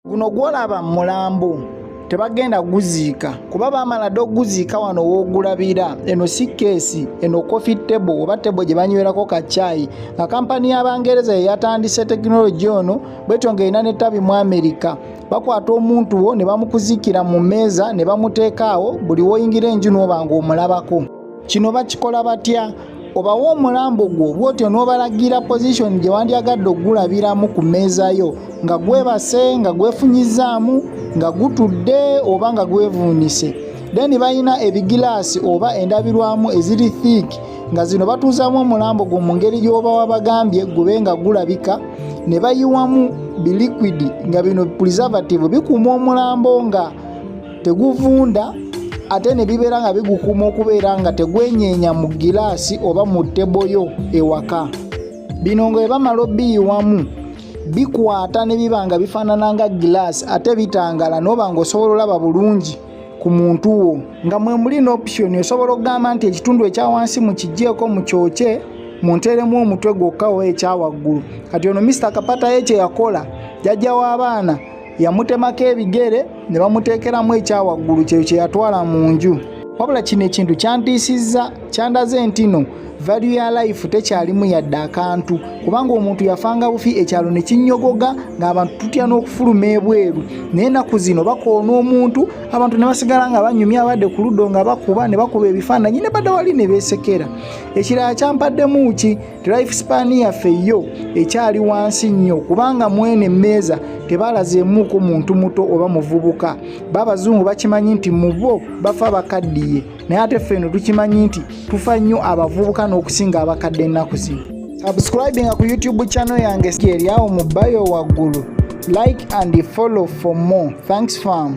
guno gwolaba mulambo tebagenda guziika kuba bamala dde oguziika wano w'ogulabira eno si keesi eno coffee table oba table gye banywerako ka caayi nga kampani y'abangereza ye yatandise tekinologi ono bwetyo ng'erina n'ettabi mu amerika bakwata omuntu wo ne bamukuzikira mu mmeeza ne bamuteekaawo buli woyingira enju n'oba ng'omulabako kino bakikola batya obawa omulambo gwo bwotyo n'obalagira pozishoni gye wandyagadde okugulabiramu ku mmeeza yo nga gwebase nga gwefunyizaamu nga gutudde oba nga gwevuunise then balina ebigilaasi oba endabirwamu eziri thiik nga zino batuuzamu omulambo gwo mu ngeri gy'oba wabagambye gube nga gulabika ne bayiwamu biliquidi nga bino preservative bikuuma omulambo nga teguvunda ate ne bibeera nga bigukuuma okubeera nga tegwenyeenya mu giraasi oba mu ttebo yo ewaka bino nga bwe bamala obiyiwamu bikwata ne biba nga bifaanana nga giraasi ate bitangala n'oba ng'osobola olaba bulungi ku muntu wo nga mwe muli n'opusiyoni osobola okugamba nti ekitundu ekya wansi mu kigyeko mu kyokye munteremu omutwe gwokka oba ekyawaggulu kati ono misita kapataye kye yakola jajja w'abaana yamutemako ebigere ne bamuteekeramu ekyawaggulu kyeyo kye yatwala mu nju wabula kino ekintu kyantiisizza kyandaze ntino value ya life tekyalimu yadde akantu kubanga omuntu yafanga bufi ekyalo ne kinnyogoga ng'abantu tutya n'okufuluma ebweru naye ennaku zino bakoona omuntu abantu ne basigala nga banyumya abadde ku luddo nga bakuba ne bakuba ebifaananyi ne badda wali ne beesekera ekirala kyampaddemu ki life span yaffe yo ekyali wansi nnyo kubanga mwene emmeeza tebalazeemuuko muntu muto oba muvubuka baabazungu bakimanyi nti mu bo bafa bakaddiye naye ate ffe eno tukimanyi nti tufa nnyo abavubuka n'okusinga abakadde ennaku zino subscribinga ku youtube channel yange eryawo mu bayo waggulu like and follow for more thanks fam